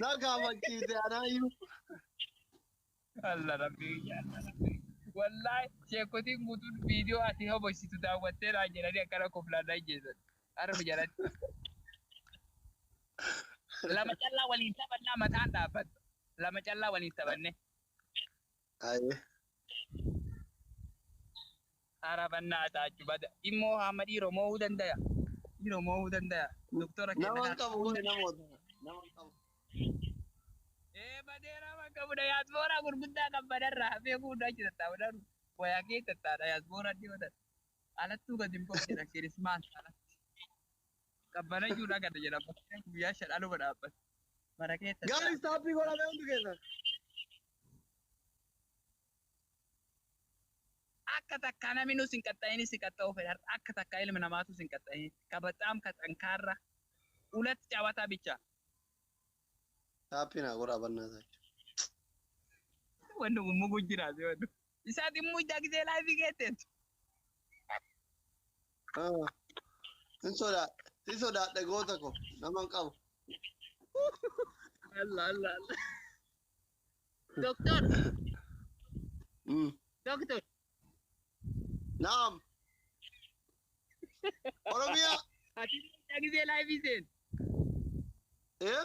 Na kaafachiise anaayyuu. Allah rabbi biyya Allah rabbi. Wallahi sheekotiin guutuun viidiyoo ati hobositu daawwattee naan jedhanii akkana koflaan naan jeesan. Arbi jalatti. Lama callaa waliin taphannaa mataan dhaabbata. Lama callaa waliin taphanne. Aye. Ara bannaa taachu bada. Immoo haama dhiiro moohuu dandaya. Dhiiro moohuu dandaya. Doktora kenna Naman kana. qabu kuni namoota. Naman qabu. Ee badee nama qabu dayaasbooraa gurguddaa kan badarraa hafee kuudhaa achi tattaa'u dharu. Wayaa kee tattaa'u dayaasbooraa dhiyoo tatta. Alattuu gadi hin koo jedha kirismaas alatti. Qabbanayyuu na gada jedha bakkeen guyyaa shan aluma dhaabbata. Mana keessa Gaari taa'e. istaappii godhamee hundi keessa. Akka takkaa namni nus hin qaxxayin si qaxxa'uu fedha. Akka takkaa ilmi namaatu sin qaxxayin. Ka baxaam ka xankaarra. Ulat cawata bicha. Taappii naa godhaa bannaa taa'e. Wanni kun muguu jiraate wanni. Isaa dhimmu ijaa gisee laayifii geetteetu. Ah. Hin sodaa. Hin sodaadha goota ko. Nama hin qabu. Allah Allah Allah. Doktor, Mm. doktor. Naam. Oromiyaa. Ati ijaa gisee laayifii seen. Eh?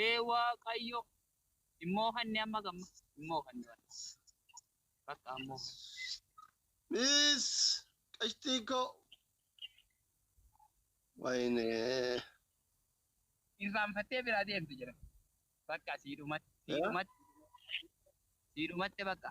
Ee Waaqayyo hin moohanne amma gamma hin moohanne walla. Bakka hin moohanne. Miis qashtii koo. Wayne. Irraanfattee biraa deemte jira. Bakka sii dhumatte sii dhumatte sii dhumatte bakka.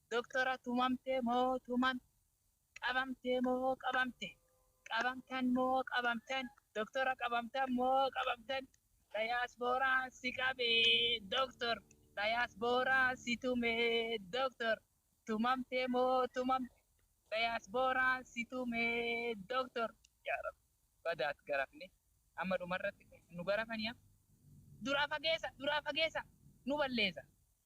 Doktora tumamte moo tuman qabamte moo qabamte qabamtan moo qabamtan doktora qabamtan moo qabamtan dayaasbooraan si qabe doktor dayaasbooraan si tume doktor tumamte moo tumamte dayaasbooraan si tume doktor yaa rabbi badaat garafne amma dhumarratti nu garafaniya duraa fageessa duraa fageessa nu balleessa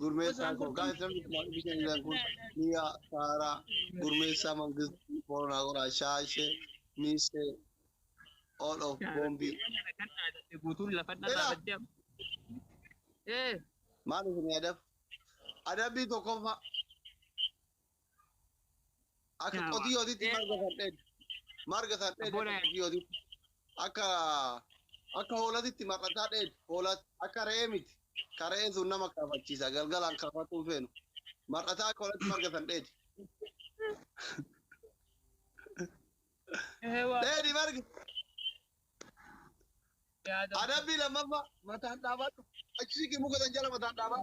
Gurmeessaa koo gaa'eessa miidhamaa bishaan isaan kun miyaa saaraa gurmeessaa mangist boronaa qoraa shaashee miisee all of boombii. Guutuun lafa Ela. dhabaa badde amma. Ee. Maal isin yaadaf? Adabbii tokkoffaa Akka Yaa qotiyootitti waaqee. marga san dheedda. Marga san dheedda Abboola. akka qotiyootitti. Akka akka hoolatitti mar'ataa dheedda. Hoolat akka re'ee miti. Ka re'ee sun nama kaafachiisa. Galgalaan kaafatuu hin feenu. Mar'ataa akka hoolatti marga san dheedda. Ee waaqee. Dheedhi marga. Yaada. Adabbii lammaffaa mataan dhaabadhu. Achi siqi muka san jala mataan dhaabaa.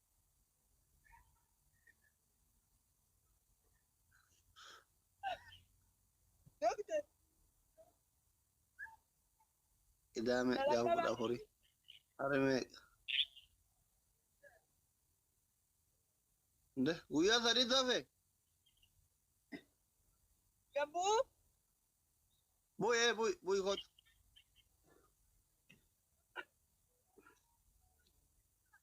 Idaa meeqaa kudha afuri. Hari meeqa? Nde guyyaa sadii tafe Gabu. buy ee buy buy kot.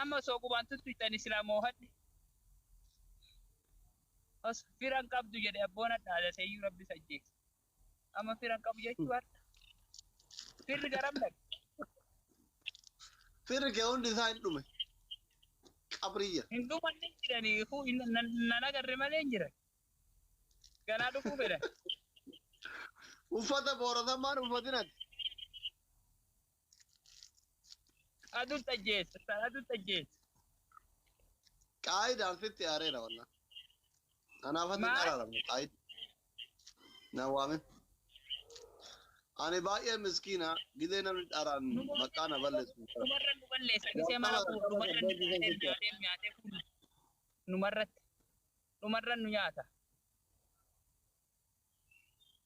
Amma osoo qubaan tuttu cani silaa moohadhe. Os fira hin qabdu jedhe abboon hadhaa daseeyyuu rabbis ajjeese. Amma fira hin qabu jechuu hadha. Firri garam dhaqe. Firri kee hundi isaa hin dhume. Qabrii jira. Hin dhuman hin jirani kuu nan agarre malee hin jiran. Ganaa dhufuu fedhan. Uffata booratamaan uffatinati. Adu tajjeet. Adu tajjeet. Qaayidaan sitti aareera wallah. Kanaaf ati Maal? qaraaramne qaayid. Na waamin. Ani baay'ee miskiina gilee namni dharaan maqaa na balleessu. Numarra nu balleessa. Gisee mara kuu numarra nu nyaatee nyaatee nyaatee kuu. Numarratti. Numarra nu nyaata.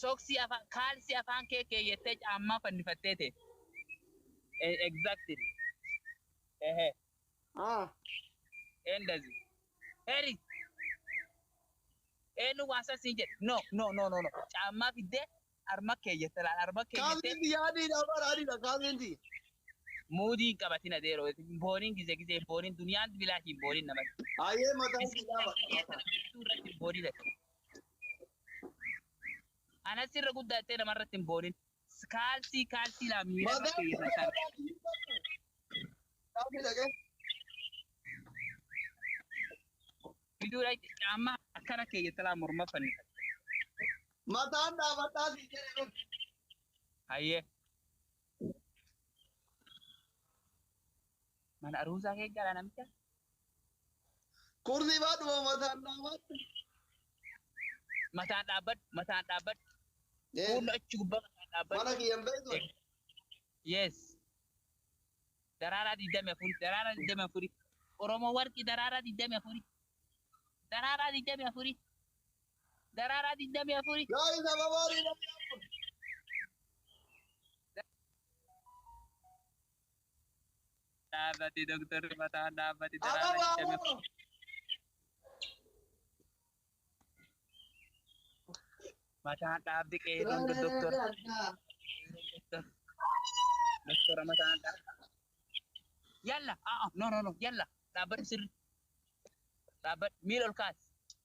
Soksii afaan, kaalsii afaan kee keeyyattee caammaa fannifattee teette. Exactly. Ehe. Ah. Endazi. Heri. Eenyu waan san siin jedhe? No, no, no, no, no. Caammaa fiddee harma keeyyatte laal, harma keeyyattee Kaaseen tiyya adiidha bara adiidha kaaseen tiyya. muudii hin qabatin adeero. Booniin gizee gizee hin booniin duniyaan bilaashi hin booniin namatti. Ayee mataa Isin itti dhaaba. Isin irratti hin booniin ati. Anas irra guddaa jettee nama irratti hin boonin. Kaalsii kaalsii laa miira irra keeyyafataan. Fiduudha itti caamma akkana keeyyata laa morma fannifata. Mataan dhaabadhaa si jedhe. Hayyee. Mana aruusaa kee jaalaa namicha. Kursii baadhuma mataan dhaabadhu. Mataan dhaabbadhu mataan dhaabbadhu. Yes. Fuulli achi gubbaa mataan dhaabbadhu. Mana kiyyan beektu. Yes. Daraaraa digdami afuri daraaraa digdami afuri. Oromoo warqi daraaraa digdami afuri. Daraaraa digdami afuri. Daraaraa 24. Guys ababaa digdamii afur. Dhaabbati Dooktarri Fataan dhaabbati daraaraa Ababaa 24. afur. Mataan dhaabbi qeerroon Dooktar Dooktora mataan dhaabbi. Yalla aa no no no yalla dhaabbadhu sirri. Dhaabbadhu miila ol kaasi.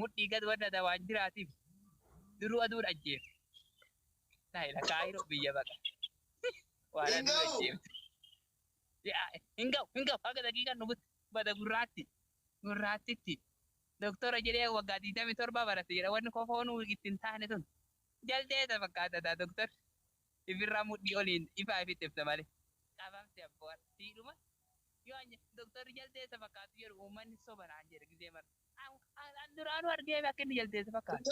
mudhii gad wadhata waan jiraatiif duruu aduun ajjeefte. Laayila kaayiroo biyya baqa. Waan aduun Hinga'u. ajjeefte. Yaa, Hin ga'u, hin ga'u, haga daqiiqaan dhufutti bada gurraatti, gurraattitti. Doktora jedhee waggaa 27 barate jedha wanni kofoonuu itti hin taane tun. Jaldeessa fakkaata daa doktor. Ifirraa mudhii oliin ifaa ifitti ifta malee. Qabamte abboo siidhuma. Yoo ani doktorri jaldeessa fakkaatu jedhu uummanni soba naan jedha gizee mara. An duraanuu argeef akka inni jaldeessa fakkaata.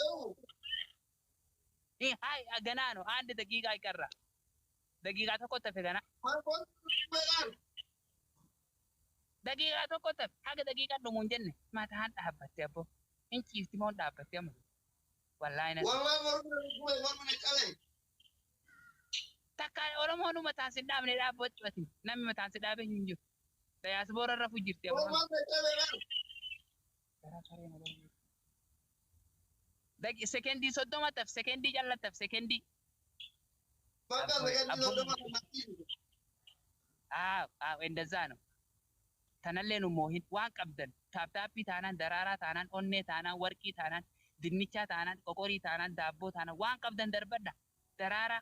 Hi, hi, ganaa no, and daqiiqaa iqarra. Daqiiqaa tokko tafe gana. Daqiiqaa tokko tafe haga daqiiqaan dhumu hin jenne mataan dhaabbatte abbo. Hin ciifti moo hin dhaabbatte amma. Wallaahi na. Takka Oromoon mataan sin dhaabne dhaabbachuu ati. Namni mataan si dhaabe hin jiru. Dayaasboora rafu jirti amma. Gowwaan dadhabe bar. Gara saree na barbaadu. Daqi sekendii soddoma taf sekendii calla taf sekendii. Bakka Abboo, sekendii abboo. soddoma kan natti himi. Haa haa indazaa no. Tanallee nu moohin waan qabdan taaptaappii taanaan daraaraa taanaan onnee taanaan warqii taanaan dinnichaa taanaan qoqorii taanaan daabboo taanaan waan qabdan darbadha daraaraa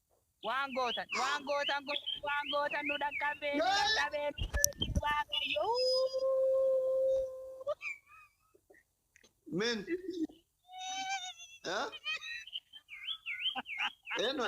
Waan gootan waan gootan godhaa waan gootan nu dhaqqabee nu dhaqqabee nu dhaqqabee waaqayyo uuu. Min. Eh? Eenyu?